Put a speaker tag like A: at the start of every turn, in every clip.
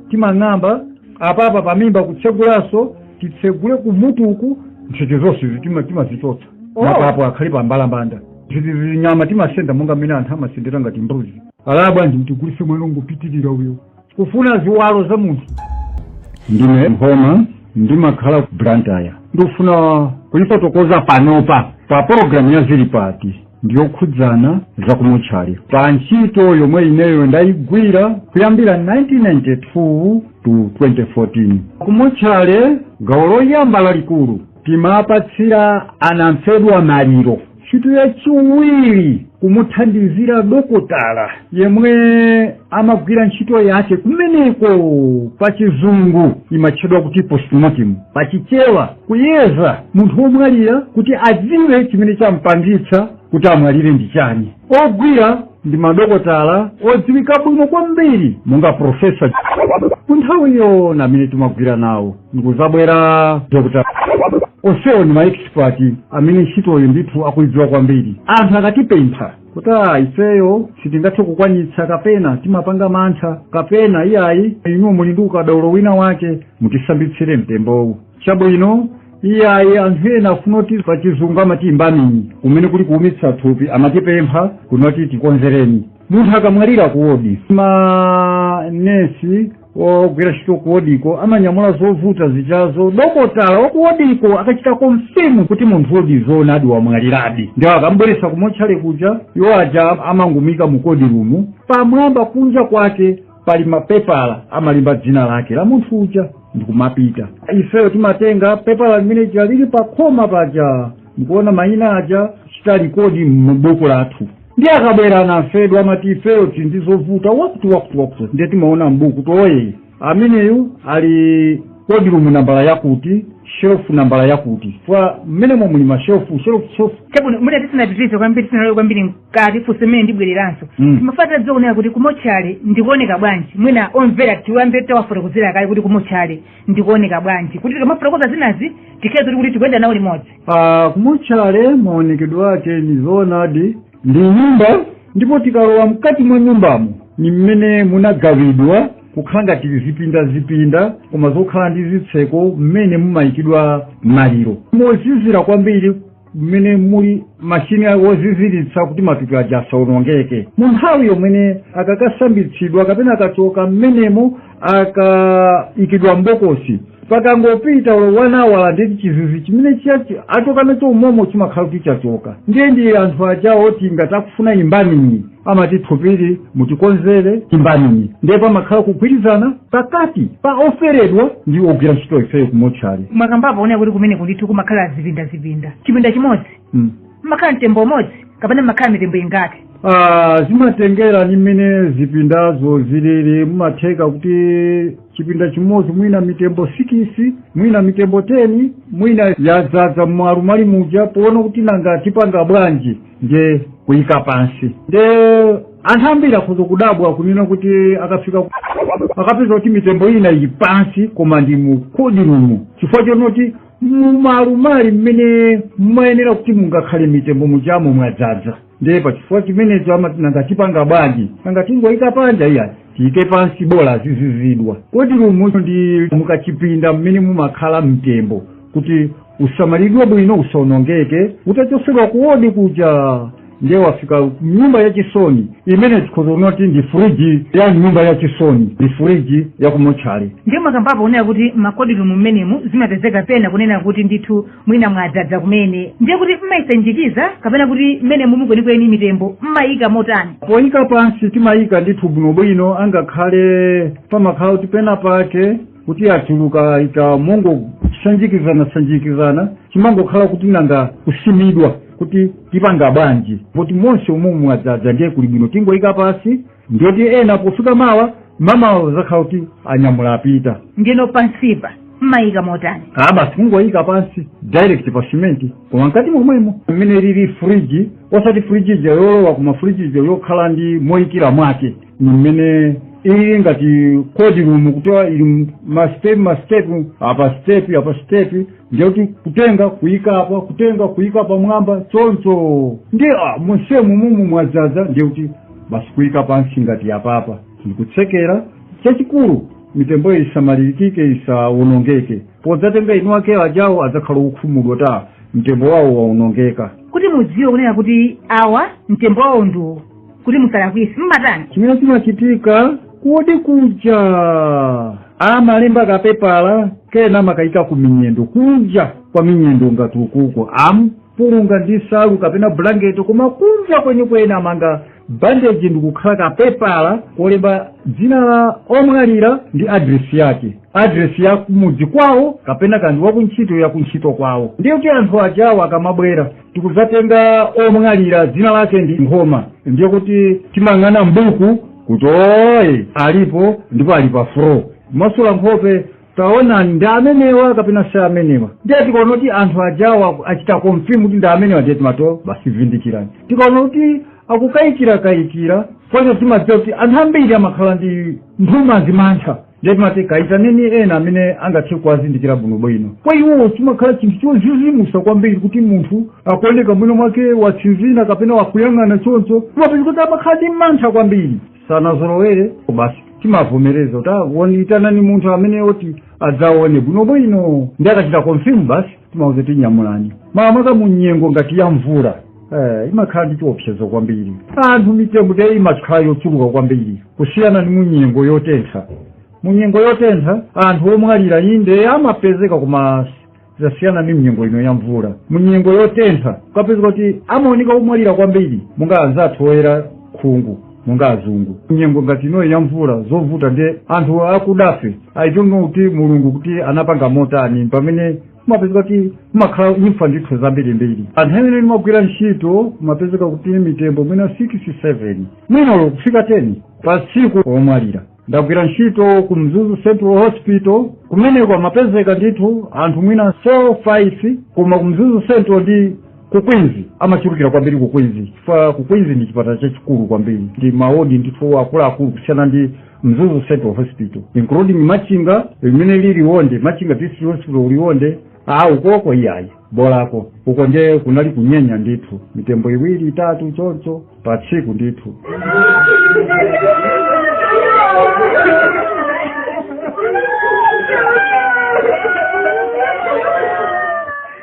A: timang'amba apapa pamimba kutsegulanso titsegule kumutuku ntchito zonse izi tima- timazichotsa Oh. mapapo akhale pa mbalambanda zinyama timasenda monga mmene anthu amasendera ngati mbuzi alaya bwanji mtigulise mwano ngopitirira muyeso kufuna ziwalo za munthu ndine mphoma ndimakhala ku blantyre ndikufuna kuyifotokoza panopa pa pologalamu ya zilipati ndiyokhudzana za kumutchali pa ntchito yomwe ineyo ndayigwira kuyambira 1992 to 2014 kumotchale gawo loyamba lalikulu timapatsira anamfedwa maliro ntchito yachiwiri kumuthandizira dokotala yemwe amagwira ntchito yake kumeneko pa chizungu imatchedwa kuti postmortem pa chichewa kuyeza munthu womwalira kuti adziwe chimene champangitsa kuti amwalire ndi chani ogwira ndi madokotala odziwika bwino kwambiri monga profesa panthawiyo ndi amene timagwira nawo ndikuzabwera dr onsewo ndi maexpert amene ntchitoyo ndithu akuidziwa kwambiri anthu akatipempha kuti a ifeyo sitingathe kukwanitsa kapena timapanga mantha kapena iyayi inu muli ndi ukadaulo wina wake mutisambitsire mtembowu chabwino iyayi anthu ena afuna kuti pa chizungu amati embalming kumene kuli kuumitsa thupi amatipempha kuno kuti tikonzereni munthu akamwalira kuwodi manesi wogwira ntchito kuwodiko amanyamula zovuta zijazo dokotala wakuwodiko akachita confirm kuti munthu uyodi zoonadi wamwaliradi ndiwo akambweretsa kumotchale kuja iwo aja amangomuika mu cold room pamwamba kunja kwake pali mapepala amalemba dzina lake la munthu uja ndikumapita ifeyo timatenga pepala limene lija lili pakhoma paja ndikuona mayina aja kuchita record m'buku lathu ndiye akabwera anamfedwa amati ifeyo tili ndi zovuta wakuti wakuti wakuti ndiye timaona mbuku kuti ee ameneyu ali cold room nambala yakuti shelufu nambala yakuti chifukwa mmenemo muli mashelufu shelufu shelufu chabwino
B: ndiye tisanapitirize kwambiri tisanalowe kwambiri mkati funso limene ndibwereranso Mm. timaphatira dzoonera kuti kumotchale ndi kooneka bwanji mwina omvera tiwambe tawafotokozera kaye kuti kumotchale ndi kooneka bwanji kuti tikamafotokoza zinazi tikhale zoti kuti tikuyenda nawo limodzi
A: kumotchale maonekedwe ake ni zoonadi ndi nyumba ndipo tikalowa mkati mwa nyumbamo ni mmene munagawidwa kukhala ngati zipinda zipinda koma zokhala ndi zitseko mmene mumayikidwa maliro mozizira kwambiri mmene muli mashini woziziritsa kuti matupi aja asaonongeke mu nthawi yomwe akakasambitsidwa kapena akachoka mmenemo akaikidwa mbokosi pakangopita wani awala ndeti chizizi chimene chachi achoka nacho umomo chimakhala kuti chachoka ndiye ndi anthu ajawo oti ngati akufuna embalming amati thupili mutikonzere embalming ndiye pamakhala kugwirizana pakati pa oferedwa ndi ogwira ntchito ifeyo kumotchale mwakambapo kunena kuti
B: kumeneku ndithu kumakhala zipinda zipinda chipinda chimodzi mm. mmakhala mtembo umodzi kapena mmakhala mitembo ingati Ah,
A: zimatengera ni mmene zipindazo zilili mumatheka kuti chipinda chimodzi mwina mitembo sikisi mwina mitembo teni mwina yadzadza mmalumali muja poona kuti nanga tipanga bwanji nde kuyika pansi nde anthu ambiri akhoza kudabwa kunena kuti akafika ku- akapeza kuti mitembo ina ili pansi koma ndi mu kodirumu chifukwa chonoti mumalumali mmene mumayenera kuti mungakhale mitembo mujamo mwadzadza ndiye pachifukwa chimenecho amati nanga tipanga bwanji nanga tingoyika panja iya tiyike pansi bola azizizidwa kodirumu ndi mukachipinda mmene mumakhala mtembo kuti usamalidwe bwino usaonongeke utachosedwa kuwodi kuja ndiye wafika mnyumba yachisoni imene tikhoza kunoti ndi furiji ya nyumba yachisoni ndi furiji yakumotchale ndiye mwakambapo kunena
B: kuti makodirumu mmenemu zimapezeka pena kunena kuti ndithu mwina mwadzadza kumene ndiye kuti mmayisanjikiza kapena kuti mmenemumu kwenikweni mitembo mmayika motani poyika
A: pansi timayika ndithu bwinobwino angakhale pamakhala kuti pena pake kuti achuluka ikamangosanjikizana sanjikizana chimangokhala kuti nanga kusimidwa kuti tipanga bwanji poti monse umumu mwadzadza ndiye kuli bwino tingoyika pansi ndiyoti ena pofika mawa mamawa azakhala kuti anyamula apita ndino pansipa
B: mmayika motani aa basi kungoyika
A: pansi direct pa simenti koma mkati momwemo mmene ilili friji osati friji ija yolowa koma friji ija yokhala ndi moyikira mwake ni mmene ili ngati kodirumu kuti ili mastep mastep apa step apa step ndiye kuti kutenga kuyika apa kutenga kuyika pamwamba choncho ndiye ah, monse umumu mwadzadza ndiye kuti basi kuyika pansi ngati apapa ndikutsekera chachikulu mitembo isamalirikike isawonongeke podzatenga eni ake ajawo adzakhala okhumudwa ta mtembo wawo wawonongeka kuti mudziwe kunena
B: kuti awa mtembo wawo ndiwo kuti musalakwise mmatani chimene
A: chimachitika kuwodi kuja amalemba kapepala kena amakayika ku minyendo kunja kwa minyendo ngati ukuko amkulunga ndi nsalu kapena bulangeti koma kunja kwenikweni amanga bandeji ndikukhala kapepala kolemba dzina la omwalira ndi adresi yake adresi ya kumudzi kwawo kapena kaya ndi wakuntchito yakuntchito kwawo ndiye kuti anthu ajawo akamabwera tikudzatenga omwalira dzina lake ndi nkhoma ndiye kuti timang'ana mbuku kuti oye alipo ndipo ali pa floor masula nkhope taonani ndi amenewa kapena si amenewa ndiye tikaona kuti anthu ajawa achita confirm kuti ndi amenewa ndiye timati basi vindikirani tikaona kuti akukayikira kayikira fana timadziwa kuti anthu ambiri amakhala ndi nthumanzi mantha ndiye timati kayitaneni ena amene angathe kuwazindikira bwinobwino kwa iwowo chimakhala chinthu chodzidzimutsa kwambiri kuti munthu akuoneka mwina mwake watsinzina kapena wakuyang'ana choncho timapeza kuti amakhala ndi mantha kwambiri sanazolowere basi timavomereza kuti woniyitanani munthu amene oti adzaone bwinobwino ndiye akachita confirm basi timauza kuti nyamulani makamaka mu nyengo ngati ya mvula Eh, imakhala ndi chiopsezo kwambiri anthu mitembo ndiye imakhala yochuluka kwambiri kusiyana ndi munyengo yotentha munyengo yotentha anthu omwalira inde amapezeka koma zasiyana ndi mnyengo ino ya mvula munyengo yotentha kumapezeka kuti amaoneka omwalira kwambiri monga anzathu oyera khungu monga azungu nyengo ngati inoyi ya mvula zovuta ndi anthu akudafe i don't know kuti mulungu kuti anapanga motani pamene kumapezeka kuti kumakhala imfa ndithu zambirimbiri anthu amene timagwira ntchito kumapezeka kuti mitembo mwina 6 7 mwina olo kufika 10 pa tsiku omwalira ndagwira ntchito ku mzuzu central hospital kumeneko amapezeka ndithu anthu mwina 4 5 koma ku mzuzu central ndi ku queens amachulukira kwambiri ku queens chifukwa ku queens ndi chipatala chachikulu kwambiri ndi maodi ndithu akuluakulu kusiyana ndi mzuzu central hospital including machinga i mean liwonde machinga district hospital ku liwonde a ukoko iyayi bolako uko nde kunali kunyenya ndithu mitembo iwiri itatu choncho pa tsiku ndithu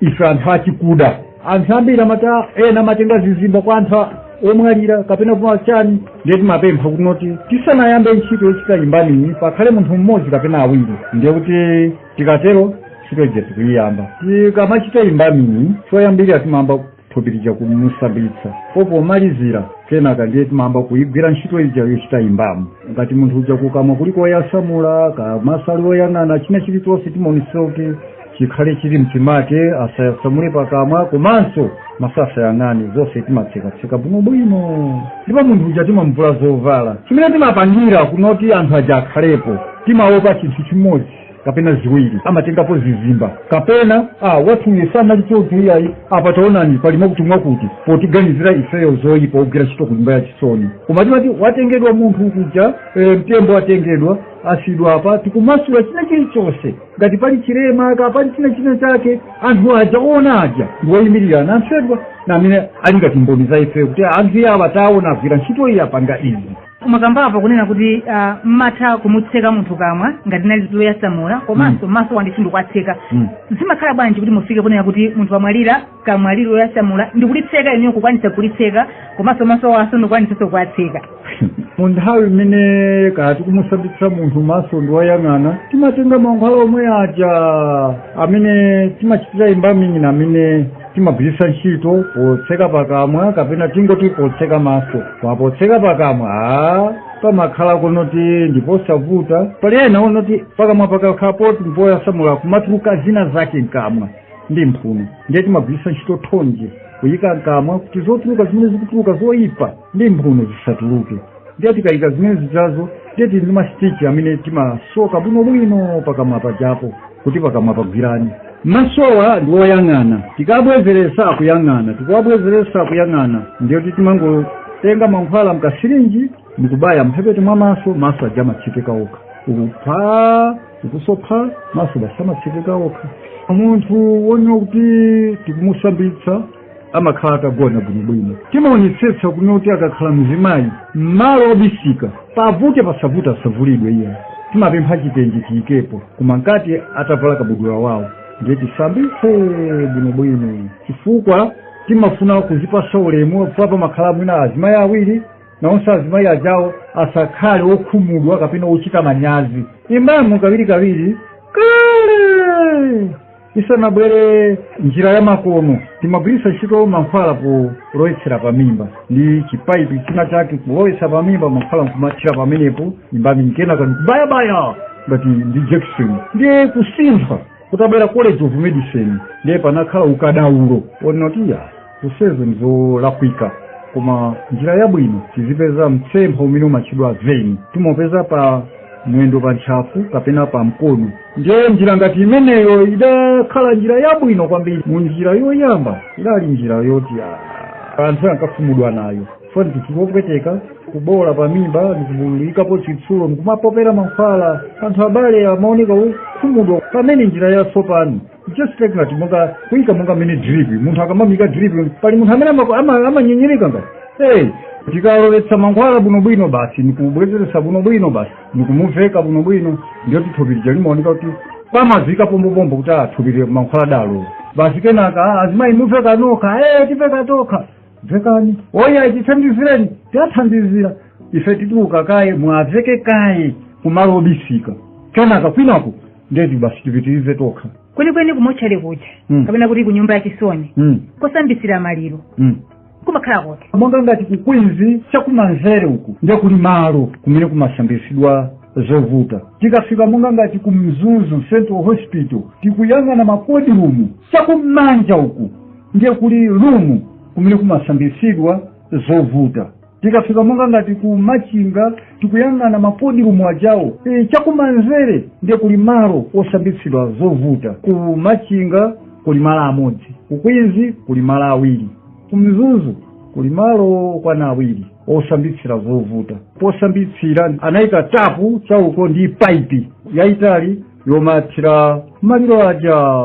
A: ife anthu achikuda anthu ambiri amata ena amatenga zizimba kwa anthu omwalira kapena kwa chani ndiye timapempha kunoti tisanayambe ntchito yochita embalming pakhale munthu mmodzi kapena awiri ndiye kuti tikatero ntchito ija tikuyiyamba tikamachita embalming choyambirira timayamba thupi lija kumusambitsa po pomalizira kenaka ndiye timayamba kuigwira ntchito ija yochita embalm ngati munthu uja kukamwa kuli koyasamula kaya maso ali oyang'ana china chilichonse timaonetsetsa kuti chikhale chili mchimake asayasamule pakamwa komanso maso asayang'ane zonse timatsekatseka bwinobwino ndipo munthu uja timamvula zovala chimene timapangira kunoti anthu aja akhalepo timaopa chinthu chimodzi kapena ziwiri amatengapo zizimba kapena wathuyu sanali choncho iyayi apa taonani pali mwakuti mwakuti potiganizira ifeyo zoyipa ogwira ntchito ku nyumba ya chisoni koma timati watengedwa munthu kuja e, mtembo watengedwa asidwa apa tikumasula china chilichonse ngati pali chilema kaya pali china china chake anthu aja ona aja ndiwoyimirira anamfedwa amene ali ngati mboni za ifeyo kuti anthu awa taona agwira ntchito iyi apanga izi mwakambapo
B: kunena kuti uh, mmatha kumutseka munthu kamwa ngati nali loyasamula komanso mm. masowa ndithu ndikuwatseka mm. zimakhala bwanji kuti mufike kunena kuti munthu wamwalira kamwa lili loyasamula ndikulitseka inuyo kukwanisa kulitseka komanso masowanso ndikukwanisanso kuwatseka mu
A: nthawi imene kaya tikumusambitsa munthu maso ndi woyang'ana timatenga mankhwala omwe aja amene timachitira embalming ndi amene timagwiritsa ntchito potseka pakamwa kapena tingoti potseka maso koma potseka pakamwa a pamakhala kunoti ndiposavuta pali ena onoti pakamwa pakakhala poti mpoyasamula kumatuluka zina zake mkamwa ndi mphuno ndiye timagwiritsa ntchito thonje kuyika mkamwa kuti zotuluka zimene zikutuluka zoyipa ndi mphuno zisatuluke ndiye tikayika zimene zijazo ndiye tili ndi masitichi amene timasoka bwinobwino pakamwa pajapo kuti pakamwa pagwirane masowa ndi woyang'ana tikabwezeretsa akuyang'ana tikawabwezeretsa akuyang'ana ndiye kuti timangotenga mankhwala mkasirinji ndikubaya mphepete mwa maso maso aja amatsekeka okha ukupha ukusopha maso basi amatsekeka okha munthu wonena kuti tikumusambitsa amakhala atagona bwinobwino timaonetsetsa kunoti akakhala mzimayi mmalo obisika pavute pasavute asavulidwe iye timapempha chitenje tiyikepo koma mkati atavala kabudula wawo ndiye tisambitse bwinobwino chifukwa timafuna kuzipasa ulemu chifukwa pamakhala mwina azimayi awiri nawonso azimayi ajawo asakhale okhumudwa kapena ochita manyazi embalm kawirikawiri kale isanabwere njira ya makono timagwiritsa ntchito mankhwala kulowetsera pa mimba ndi chipaipi china chake kulowetsa pa mimba mankhwala nkumathira pamenepo embalming kenaka ndi kubayabaya ngati ndi jakisoni ndiye kusintha kutabwera college of medicine ndiye panakhala ukadaulo onena kuti ya zonsezi nzolakwika koma njira yabwino tizipeza mtsempha umene umatchedwa vein timaupeza pa mwendo pa ntchafu kapena pa mkono ndiye njira ngati imeneyo idakhala njira yabwino kwambiri mu njira yoyamba idali njira yoti ah, anthu ankakhumudwa nayo chifukwa ndi chinthu chopweteka kuboola pa mimba ndikuyikapo chitsulo ndikumapopera mankhwala anthu abale amaoneka okhumudwa pamene njira yatsopano just like that ngati kuika monga mmene drip munthu akamamika drip pali munthu amene ama- ama- amanyenyereka kuti hey tikalowetsa mankhwala bwinobwino basi nikubwezeretsa bwinobwino basi nikumuveka bwinobwino ndiyo thupi lija limaoneka kuti pamazika pombopombo kuti athupire mankhwalawo basi kenaka "Ah, azimayi muveka nokha hey tiveka tokha vekani oya tithandizireni tiwathandizira ife tituluka kaye muwaveke kaye kumalo obisika kenaka kwinako ndiye kuti basi tipitirize tokha kwenikweni
B: kumotchale kuja Mm. kapena kuti ku nyumba ya chisoni mm. kosambitsira maliro mm. kumakhala kuti monga ngati ku queens
A: chakumanzere uku ndiye kuli malo kumene kumasambitsidwa zovuta tikafika monga ngati ku mzuzu central hospital tikuyang'ana ma cold room chakumanja uku ndiye kuli room kumene kumasambitsidwa zovuta tikafika monga ngati ku machinga tikuyang'ana ma cold room ajawo e, chakumanzere ndiye kuli malo osambitsira zovuta ku machinga kuli malo amodzi ku queens kuli malo awiri ku mzuzu kuli malo okwana awiri osambitsira zovuta posambitsira anayika tapu chauko ndi paipi yayitali yomathira maliro aja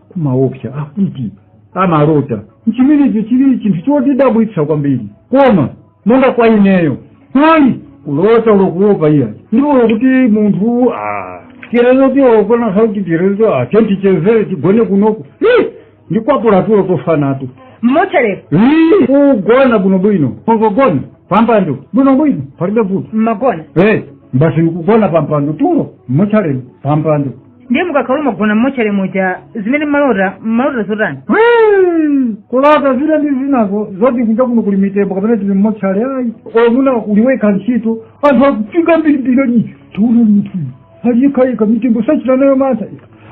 A: kumaopsa akuti amalota nchimene icho chili chinthu chotidabwitsa kwambiri koma monga kwa ineyo ayi kulota olo kuopa iyayi ndipo olo kuti munthu ah, chirezo tiokona sauti chirezo ah, tichezere tigone kunoko Hi! ndikwapula tulo tofa nato
B: mmotchalemo Hi!
A: kugona bwinobwino kongogona pampando bwinobwino palibe vuto mmagona Eh,
B: basi
A: nikugona pampando tulo mmotchale pampando ndiye
B: mukakhala mumagona mmotchale muja zimene mmalota mmalota zotani
A: Hmm, kulota zina ndi zinazo zoti kunja kuno kuli mitembo kapena tili mmotchale ayi umangoweruka ntchito anthu akufika mbirimbiri ali tiona munthu aliyekayeka mitembo sachita nayo mantha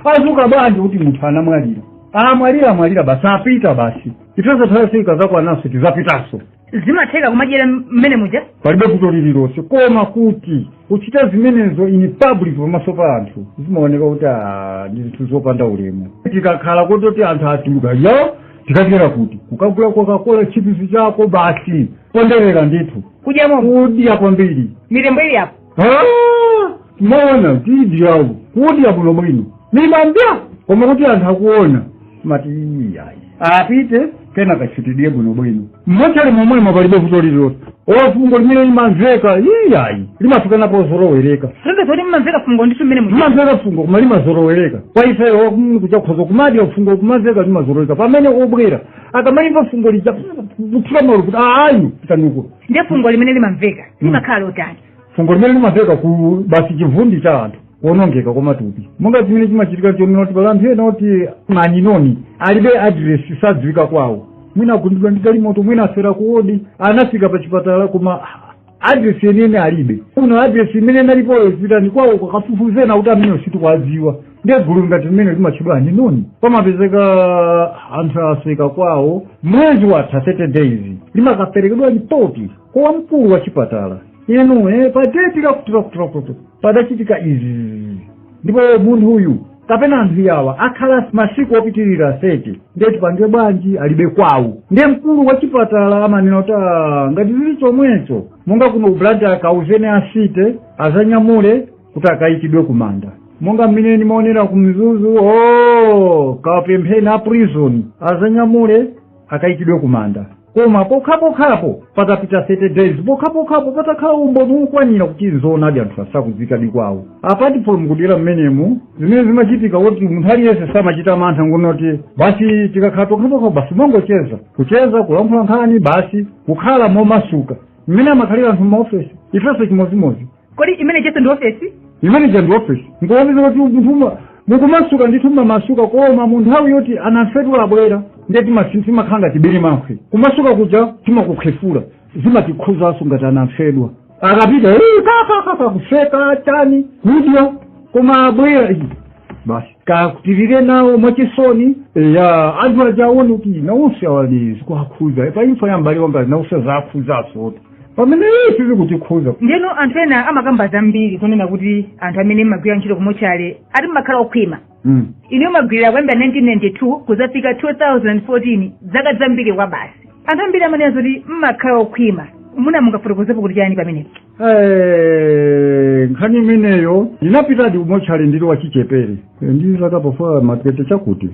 A: azuka bwanji kuti munthu anamwalira amwalira amwalira basi apita basi nthawi yawo ikazakwananso tizapitanso
B: zimatheka kumadyera mmene muja palibe vuto
A: lililonse koma kuti kuchita zimenezo in public pamaso pa anthu zimaoneka kuti ah, ndi zinthu zopanda ulemu tikakhala kuti anthu atulukawo tikathera kuti kukagula kokakola chipisi chako basi ponderera ndithu kudyamo kudya kwambiri mitembo ili apo Ah, moona tidyawo kudya bwino bwino timadya koma kuti anthu akaona amati iyayi apite kena kachitidie bwino bwino mmotchale momwemo palibe vuto lililonse fungo limene limamveka iyayi limafika pozolowereka Sasa zoti
B: mmamveka fungo ndithu mmene muja. limamveka fungo
A: koma limazolowereka kwa ifeyo mm, utha kukhoza kumadya fungo kumamveka limazolowereka pamene obwera akamalimva fungo lija kuthira malovu kuti ayi pitanuko
B: ndiye fungo limene
A: limamveka limakhala lotani fungo limene limamvekako basi chivundi cha anthu kuonongeka kwa matupi monga chimene chimachitika nchonena kuti pali anthu ena oti ma unknown alibe adiresi sadziwika kwawo mwina agundidwa ndi galimoto mwina afera kuwodi anafika pa chipatala koma adiresi yeniyeni alibe olo adiresi imene inalipoyo zipitani kwawo kakafufuzeni akuti ameneyo sitikwadziwa ndiye gulu ngati mmene limatchedwa unknown pamapezeka anthu asoweka kwawo mwezi watha 30 days limakaperekedwa lipoti kwa mkulu wa chipatala inu eh, pa deti lakuti lakuti lakuti padachitika izi ndipo munthu uyu kapena anthu awa akhala masiku opitirira 30 ndiye tipange bwanji alibe kwawo ndiye mkulu wa chipatala amanena kuti "Ah, ngati zili chomwecho monga kuno ku blantyre akauzeni a city azanyamule kuti akayikidwe kumanda monga mmene ndimaonera ku mzuzu kapempheni a prison azanyamule akayikidwe kumanda koma pokhapokhapo patapita 30 days pokhapokhapo patakhala umboni wokwanira kuti nzoonadi anthuwa sakudziwikadi kwawo apart from kudera mmenemu zimene zimachitika kuti munthu aliyense samachita mantha ngonoti basi tikakhala tokhatokha basi timangocheza kucheza kulankhula nkhani basi kukhala momasuka mmene amakhalira anthu m'maofesi ifenso chimodzimodzi kodi imene ijanso
B: ndi ofesi imene ija ndi
A: ofesi nkuoneza kuti munthu uma- mukumasuka ndithu mmamasuka koma mu nthawi yoti anamfedwa abwera ndiye timasi- timakhala ngati birimankhwe kumasuka kuja timakukhefula zimatikhudzanso ngati anamfedwa akapita "Eh, kakakaka kuseka chani kudya koma abwera "Ih, basi kakutirire nawo mwachisoni ya anthu aja aone kuti nawonso awa zikuwakhudza pa imfa ya m'bale wanga nawonso zawakhudzanso pamene ife sizikutikhudza ndeno anthu
B: ena amakamba zambiri kunena kuti anthu amene mmagwira ntchito kumotchale ati mmakhala okhwima Mm. inu mwagwirira kuyambira 1992 kuzafika 2014 zaka zambiri kwabasi anthu ambiri amanena zoti mmakhala okhwima muna mungafotokozepo kuti chani pamenepo
A: Eh, nkhani imeneyo ndinapitadi kumotchale ndili wachichepere Eh, ndi zaka pafupi ma 20 chakuti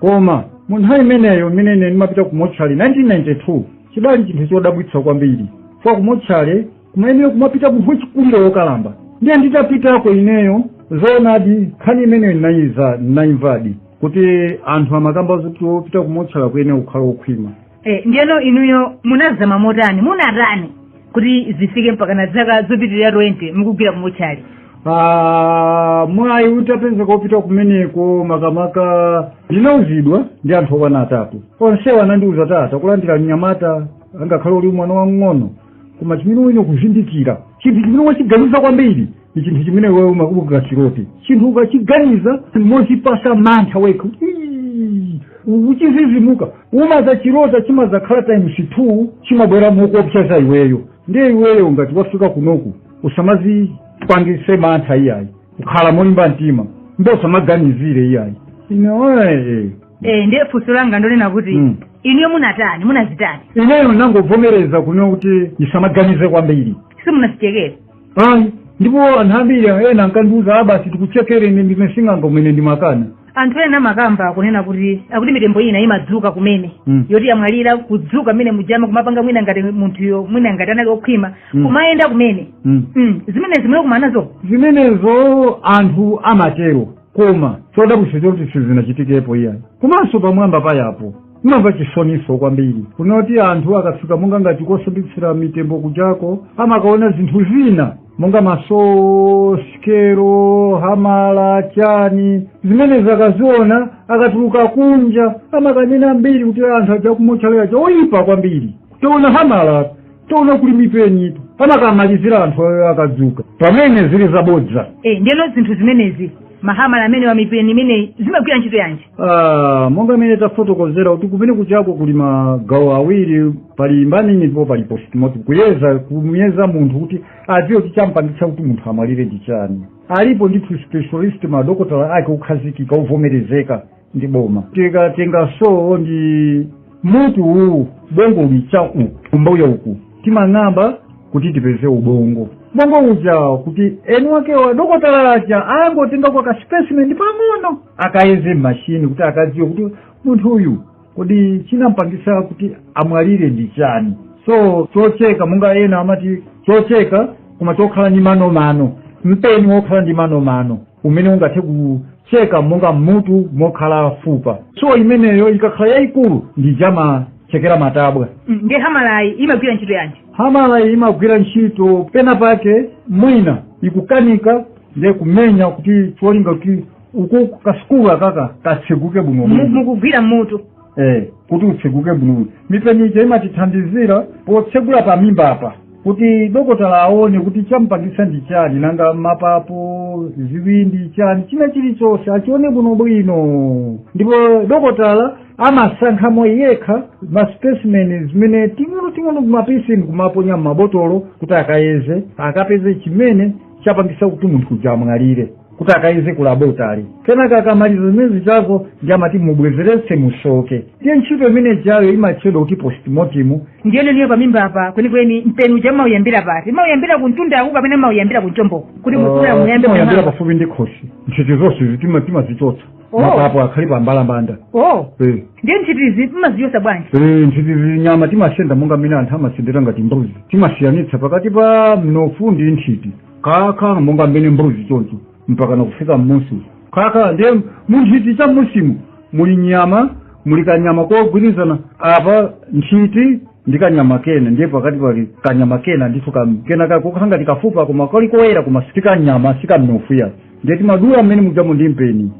A: koma mu nthawi imeneyo imene ine ndimapita ku motchale 1992 chidali chinthu chodabwitsa kwambiri kwa ku motchale kumayenera kumapita munthu wachikulire wokalamba ndiye nditapitako ineyo zoonadi nkhani imeneyo ndinayiza ndinayimvadi kuti anthu amakamba zoti wopita ku motchale kuyenera kukhala wokhwima e, ndiyeno
B: inuyo munazama motani munatani kuti zifike mpaka na zaka zopitirira 20 mukugwira kumotchale Ah, mwayi
A: utapezeka wopita kumeneko makamaka ndinauzidwa ndi anthu okwana atatu onsewo anandiuza kuti takulandira mnyamata angakhale uli mwana wamng'ono koma chimene uyenera kuzindikira chinthu chimene wachiganiza kwambiri ndi chinthu chimene iwe umakachirota chinthu ukachiganiza mochipasa mantha wekha Ii, uchizizimuka umazachirota chimazakhala times two chimabwera mokuopseza iweyo ndiye iweyo ngati wafika kunoku usamazipangise mantha iyayi ukhala molimba mtima nde usamaganizire iyayi ine wee eh
B: ndiye funso langa ndonena kuti Mm. inuyo munatani munazitani ineyo
A: nangobvomereza kunena kuti ndisamaganize kwambiri simunazichekere
B: ayi
A: ndipo anthu ambiri ena ankandiuza a basi tikuchekereni ndine sing'anga kumene ndimakana anthu ena
B: amakamba kunena kuti akuti mitembo ina imadzuka kumene Mm. yoti yamwalira kudzuka mmene mujama kumapanga mwina ngati munthuyo mwina ngati anali okhwima Mm. kumayenda kumene Mm. mm. zimenezi mwakumana nazo zimenezo
A: anthu amatero koma chodabwitsa choti sizinachitikepo iyayi komanso pamwamba pa apo ndimamva chisoniso kwambiri kunena kuti anthu akafika monga ngati kosambitsira mitembo kujako amakaona zinthu zina monga ma so sikelo hamala chani zimenezi akaziona akatuluka kunja amakanena mbiri kuti anthu aja kumotchale aja oyipa kwambiri kutoona hamala tona kuli mipeni ndipo amakamalizira anthuwo akadzuka pamene zili zabodza e ndeno
B: zinthu zimenezi mahamala amenewa mipeni imeneyi zimagwira ntchito yanji Ah, monga mmene
A: tafotokozera kuti kumene kuchako kuli magawo awiri pali embalming ndipo pali postmortem kuyeza kumuyeza munthu kuti adziwe kuti champangitsa kuti munthu amwalire ndi chani alipo ndithu specialist madokotala ake okhazikika ovomerezeka ndi boma tikatenga so ndi mutu uwu ubongo uli cha uku kumbuyo uku timang'amba kuti tipeze ubongo ubongo uja kuti eni wakewa dokotala aja angotengako kaspecimen pang'ono akayeze mmashini kuti akadziwe kuti munthu uyu kodi chinampangisa kuti amwalire ndi chani so chocheka monga ena amati chocheka koma chokhala ndi manomano mpeni wokhala ndi manomano umene ungathe ku cheka monga m'mutu mokhala fupa so imeneyo ikakhala yayikulu ndi ija amachekera matabwa Mm, ndiye hamalayi
B: imagwira ntchito yanji hamalayi
A: imagwira ntchito pena pake mwina ikukanika nde kumenya kuti cholinga kuti uku ka skull akaka katseguke bwino Mu- bwino mukugwira mutu
B: eh
A: kuti utseguke bwino mipeni ija imatithandizira potsegula pa mimba apa kuti dokotala aone kuti chamupangitsa ndi chani nanga mapapo ziwindi chani china chilichonse achione bwinobwino ndipo dokotala amasankhamo yekha maspecimen zimene ting'onoting'ono timapisi ndikumaponya m'mabotolo kuti akayeze akapeze chimene chapangitsa kuti munthu uja amwalire kuti akayeze ku laboratory kenaka akamaliza zimene zijazo ndiye amati mubwezeretse musoke ndiye ntchito imene ijayo imatchedwa kuti postmortem ndiyeno inuyo pamimba
B: apa kwenikweni mpeni uja mmauyambira pati mmauyambira kumtunda uko kapena mmauyambira kunchombo kuti mufuna muyambe timayambira pafupi ndi
A: khosi nthiti zonsezi timazichotsa Oh. mapapo akhale pambalambanda o Eh.
B: ndiye nthitizi mmazichotsa bwanji Eh, nthitizi
A: nyama timasenda monga mmene anthu amasendera ngati mbuzi timasiyanitsa pakati pa mnofu ndi nthiti kaka monga mmene mbuzi choncho mpaka nakufika mmusi kaka ndiye munthiti cha mmusimu muli nyama muli kanyama kogwirizana apa nthiti ndi kanyama kena ndiye pakati pali kanyama kena ndithu kam- kena kokhala ngati kafupa koma kali koyera koma si kanyama si kamnofu ayi ndiye timadula mmene mujamo ndi mpeni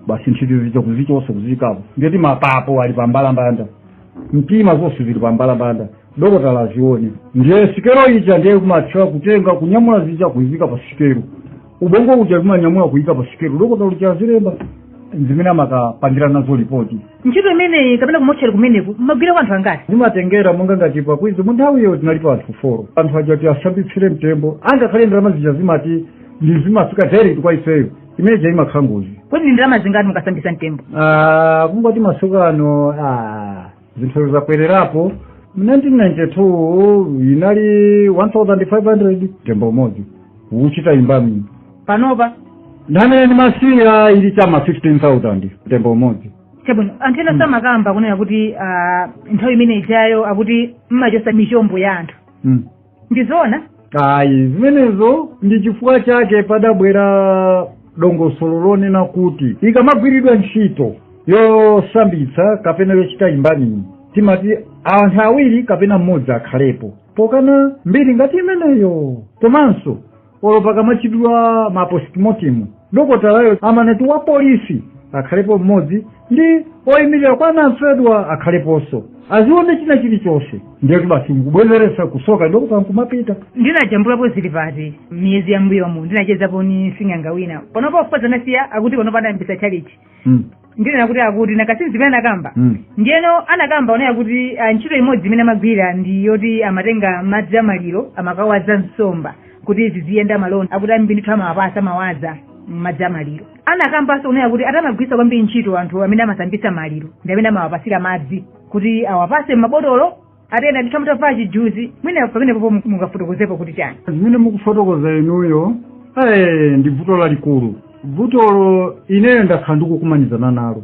A: basi nthiti zija kuzichotsa kuziika apo ndiye kuti mapapo ali pambalambanda mtima zonse zili pambalambanda dokotala azione ndiye sikelo ija ndiye kumatchula kutenga kunyamula zija kuziika pa sikelo ubongo uja timanyamula kuyika pa sikelo dokotala uja azilemba zimene amakapangira nazo lipoti ntchito imeneyi
B: kapena kumotchera kumeneku mmagwirako anthu angati zimatengera monga
A: ngati pa Queens mu nthawiyo tinalipo anthu folo anthu aja kuti asambitsire mtembo angakhale ndalama zija zimati ndi zimafika direct kwa ifeyo imene ja imakhala ngozi kodi ndi ndalama zingati
B: mukasambitsa mtembo Ah, kungoti
A: masiku ano ah, zinthu zakwererapo mu 1992 inali 1500 mtembo umodzi kuchita embalm panopa
B: nthawi
A: imene ndimasiya ili cha m'ma 15000 mtembo umodzi chabwino anthu
B: enanso amakamba kunena kuti ah, nthawi imene ijayo akuti mmachotsa michombo ya anthu mm. ndi zoona
A: ayi zimenezo ndi chifukwa chake padabwera dongosolo lonena kuti ikamagwiridwa ntchito yosambitsa kapena yochita embalming timati anthu awiri kapena mmodzi akhalepo pokana mbiri ngati imeneyo komanso olo pakamachitidwa ma postmortem dokotalayo amanena kuti wa polisi akhalepo mmodzi ndi oyimirira kwa anamfedwa akhaleponso azione china chilichonse ndiyetu basi nkubwezeretsa kusoka dokotala nkumapita ndinajambulapo
B: zili pati miyezi ya m'mbuyomu ndinachezapo ni sing'anga wina panopa ofupa zanasiya akuti panopa adayambisa tchalitchi mm. ndinena kuti akuti nakasizi zimene anakamba mm. ndiyeno anakamba kunena kuti ah, ntchito imodzi imene amagwira ndi yoti amatenga madzi a maliro amakawaza nsomba kuti ziziyenda malonda akuti ambiri ndithu amawapatsa amawaza madzi a maliro anakambanso kunena kuti ati amagwiritsa kwambiri ntchito anthu amene amasambitsa maliro ndi amene amawapatsira madzi kuti awapatse m'mabotolo atenda ndithu mutavala chijuzi mwina pamenepopo mungafotokozepo kuti chani zimene
A: mukufotokoza inuyo eh, ndi vuto lalikulu vutolo ineyo ndakhala ndikukumanizana nalo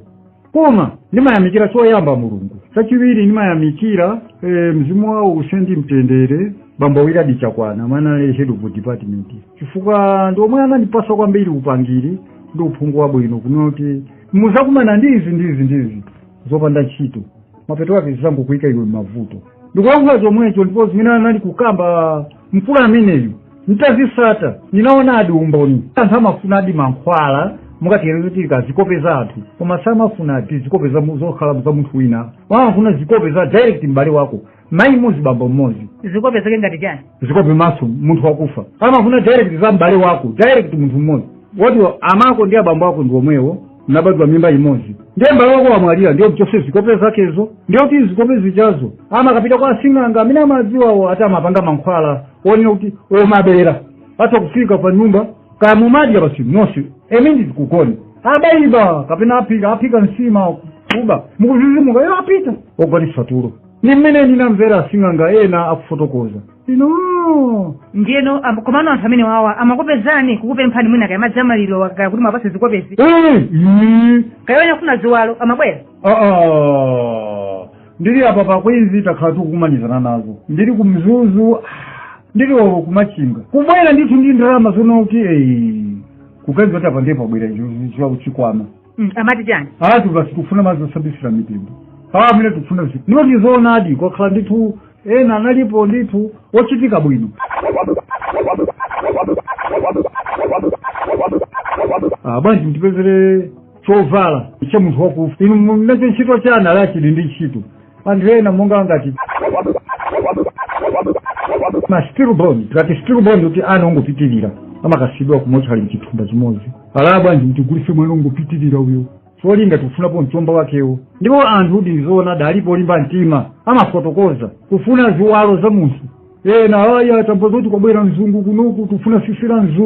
A: koma ndimayamikira choyamba mulungu chachiwiri ndimayamikira eh, mzimu wawo uuse ndi mtendere bambo wiladi chakwana omwe anali head of department chifukwa ndi omwe anandipasa kwambiri upangiri ndi uphungu wabwino kunena kuti muzakumana ndi izi ndi izi ndi izi zopanda ntchito mapeto ake zizangokuyika iwe m'mavuto ndikulankhula chomwecho ndipo zimene anali kukamba mkulu ameneyu nditazisata ndinaonadi umboni anthu amafunadi mankhwala monga tiyerekeze zikope za anthu koma samafuna ati zikope za mu- zokhala za munthu wina amafuna zikope za direct m'bale wako mayi mmodzi bambo mmodzi zikope zake ngati
B: chani zikope maso
A: munthu wakufa amafuna direct za m'bale wako direct munthu mmodzi woti amako ndi abambo ako ndi omwewo munabadwa mimba imodzi ndiye mbale wako wamwalira ndiye mchose zikope zakezo ndiye kuti zikope zijazo amakapita kwa asing'anga amene amadziwawo ati amapanga mankhwala onena kuti omabera atha kufika pa nyumba kaya mumadya basi nonse emindi kukoni abaiba kapena aphika aphika nsima kuba mukuzizimuka iwo apita ogonetsa tulo ndi mmene ndinamvera asing'anga ena akufotokoza inu ndiyeno am-
B: komano anthu amenewawa amakupezani kukupemphani mwina kaya madzi amalirowa kaya kuti mwapase zikopezi kaya ena kufuna ziwalo amabwera aa
A: ndili apa pa queens takhala tikukumanizana nazo ndili ku mzuzu ah, ndili olo kumachinga kubwera ndithu ndi ndalama zonena kuti eyi kuganiza kuti apa ndiye pabwera chikwama
B: Mm, amati chani ati basi tikufuna
A: madzi osambisira mitembo awa amene tikufuna zi ndipo ndi zoonadi kwakhala ndithu ena analipo ndithu ochitika bwino Ah, bwanji mutipezere chovala cha munthu wakufa inu munacho ntchito chani ala chili ndi ntchito anthu ena monga ngati ma stillborn tikati stillborn kuti ana ongopitirira amakasiyidwa kumochale mchithumba chimodzi ala bwanji mutigulise mwana ongopitirira uyo cholinga tikufunapo mchombo wakewo ndipo anthu kuti ndizoonadi alipo olimba mtima amafotokoza kufuna ziwalo za munthu ena aya tamva zoti kwabwera mzungu kunoku tufuna tsitsi la mzungu